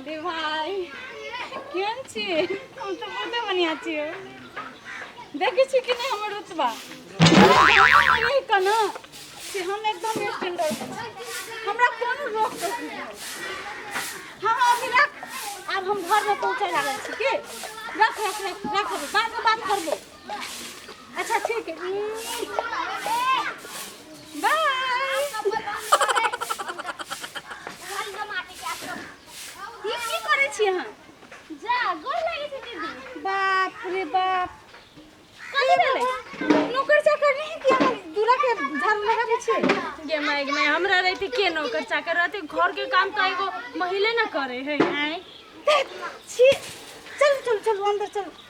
अरे भाई केहन छी हम तऽ बहुते बढ़िया छी देखै छी कि नहि हमर रुतबा रहि कऽ ने से हम एकदम स्टैंडर्ड हमरा कोनो रोक टोक नहि है। हँ हँ अभी रख आब हम घरमे पहुँचै लागल छी की रख रख रख रख बादमे बात करबो अच्छा ठीक है बाप रे बाप नौकर चाकर नहीं किया दूरा के झाड़ू लगा पीछे गे माय गे माय हमरा रहते के नौकर चाकर रहते घर के काम तो एगो महिले न करे है आए छी चल चल चल अंदर चल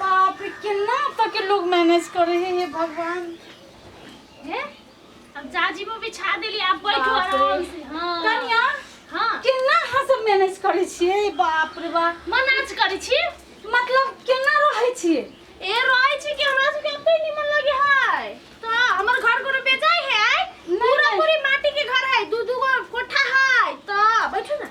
बाप रे केना एतऽ के लोग मैनेज करे है हे भगवान हे अब जाजीमो बिछा देली आप बैठो बाप रे। आराम से हां कनिया हां केना अहाँ सब मैनेज करे छियै बाप रे बाप मनाज करै छी मतलब केना रहै छियै ए रहै छी कि हमरा सबके एते निमन लगे हाय तो हमर घर कोनो बेचाय है आय नहीं, पूरा नहीं। पूरी माटी के घर है दू दू गो कोठा है तो बैठो ना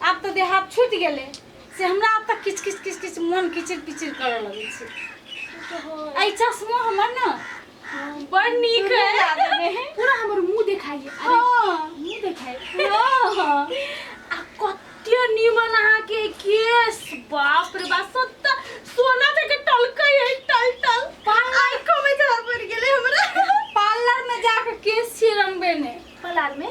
आब तऽ देह हाथ छूटि गेलै से हमरा आब तक किछु किछु किछु किछु मोन किचिर पिचिर करऽ लगै छै एहि चश्मो हमर ने बड़ नीक है पूरा हमर मुंह देखाई है अरे हाँ, मुंह देखाई हाँ, हाँ। आ कते नीमन अहाँ के केस बाप रे बाप सत्ता सोना तक टलकै है टल टल पार्लर को में धर पड़ गेले हमरा पार्लर में जाके केस छिरंबे ने पलार में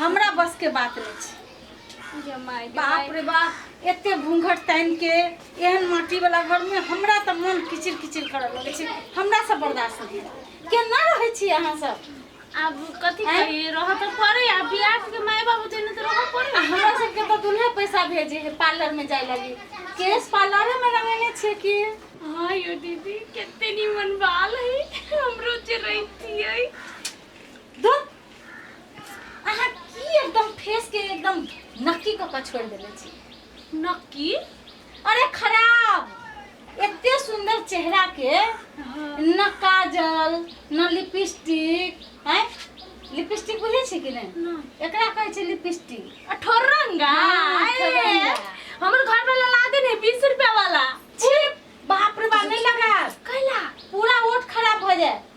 हमरा बस के बात नहीं छै गे माय, गे बाप माय। रे बाप एते घूंघट तानि के एहन माटी वाला घर में हमरा तऽ मन किचिर किचिर करऽ लगै छै हमरा से बर्दाश्त नहि होइया। केना रहै छी अहाँ सब आब कथी आँय? करी रह तऽ पड़े आ बियाह के माय बाबू देने तऽ रह पड़े आ हमरा सबके तऽ दुल्हे पैसा भेजे है पार्लर में जाय लगी केश पार्लरे में रंगेने छियै कि हाँ यो दीदी कितने निमन बाल है हमरो जे रहती है धुत अहाँ की एकदम फेस के एकदम नक्की कऽ कऽ छोड़ि देले छी नक्की अरे खराब एते सुंदर चेहरा के न काजल न लिपस्टिक हैं लिपस्टिक बुझे छी कि नहीं एकरा कहै छै लिपस्टिक ठोरंगा हाँ, अरे, ठोरंगा। हमर घर वाला ला दे ने बीस रुपया वाला छी बाप रे बाप नहीं लगा कैला पूरा ओठ खराब हो जाए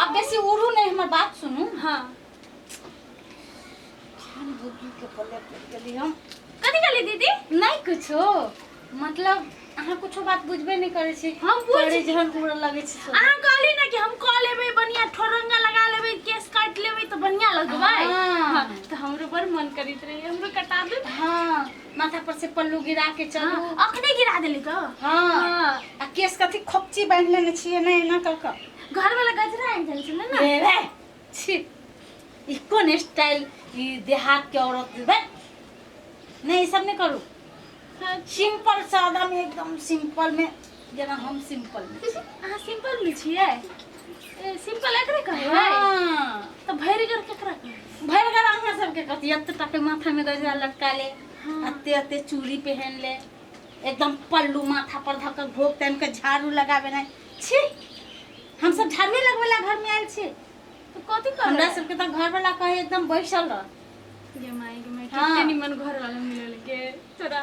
आप बेसी उड़ू नहीं हमार बात सुनू हाँ खान बुद्धू के पल्ले पड़ गेली हम कथी कहली दीदी नहीं कुछो मतलब अहाँ कुछो बात बुझबे नहीं करे छी हम बुझ- बड़े जहन उड़े लगे छी सब। अहाँ कहली ना कि हम कह लेबै बढ़िया ठोरंगा लगा लेबै केस काट लेबै तो बढ़िया लगबै हाँ। हाँ, तो हमरो बड़ मन करित रहे हमरो कटा दू हाँ माथा पर से पल्लू गिरा के चलू हाँ, अखने गिरा देली तो हाँ हाँ। आ केस कथी खोपची बांध लेने छिए ना एना क क घर वाला गजरा आनि जाइ छलै ने ए रे छी ई कोन स्टाइल ई देहात के औरत के बे नहीं ई सब नहीं करू हाँ, सिंपल सादा में एकदम सिंपल में जेना हम सिंपल में छी। अहाँ सिंपल में छियै ए, सिंपल एकरे कहै है हाँ, तऽ भरिगर केकरा कहै है? भरि घर अहाँ सबके कथी एते टाके माथा में गजरा लटका ले हाँ। अते अते चूड़ी पहन ले एकदम पल्लू माथा पर धऽ कऽ घोक तानि कऽ झाड़ू लगाबे नहि छी हम सब झाड़ू लगबै ला घर में आयल छी तऽ कथी करबै हमरा सबके तऽ घर वाला कहे एकदम बैसल रह गे माय गे माय हाँ। कते निमन घर वाला मिलल के तोरा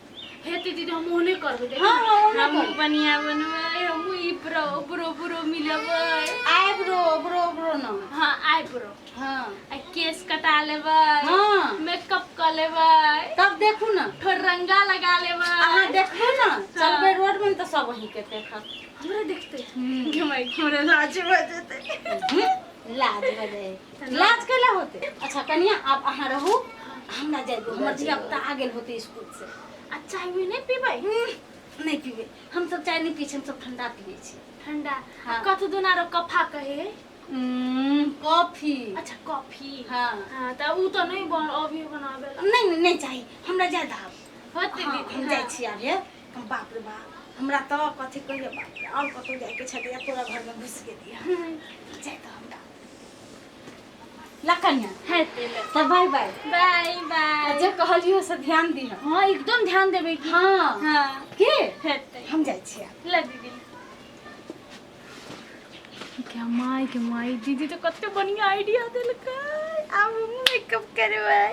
हेतै दीदी हम ओहने करबै देखियौ। हाँ, हाँ, ओहने हमहूँ करबै। बढ़िया बनबै हमहूँ ई ब्रो ब्रो ब्रो मिलबै आइब्रो ब्रो ब्रो न हाँ आइब्रो हाँ आ केस कटा लेबै हाँ। मेकअप कऽ लेबै तब देखू न थोड़ रंगा लगा लेबै अहाँ देखू न चलबै रोड में तऽ सब वही के देखत हमरा देखतै घुमाइ हमरा लाज भऽ जेतै हम्म, लाज भऽ जाए लाज कैला होते अच्छा कनिया आप अहाँ रहू हम ना जाए हमर धिया पुता आ गेल होते स्कूल से आ चाय भी नहीं पीबै हम्म, नहीं पीबे हम सब चाय नहीं पी छी हम सब ठंडा पीबे छी ठंडा हाँ। कथु दुना रो कफा कहे हम्म, कॉफी अच्छा कॉफी हाँ हाँ त उ त नहीं बन अभी बनाबे ला। नहीं नहीं नहीं चाहिए हमरा ज्यादा आब होते हाँ, दीदी हम जाइ हाँ। छी आब ये हम बाप रे बाप हमरा तो कथी कहिए बाप रे और कतौ जाए के छै या तोरा घर में घुस के दिया जाए तो हमरा ला कन्या है तेल तो बाय बाय बाय बाय जे कहलियो से ध्यान दिह हाँ एकदम ध्यान देबे की हाँ हाँ के है तेल हम जाइ छियै ला दीदी क्या माई के माई दीदी तो कते बढ़िया आइडिया देलकै आब हम मेकअप करबै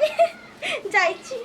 जाइ छी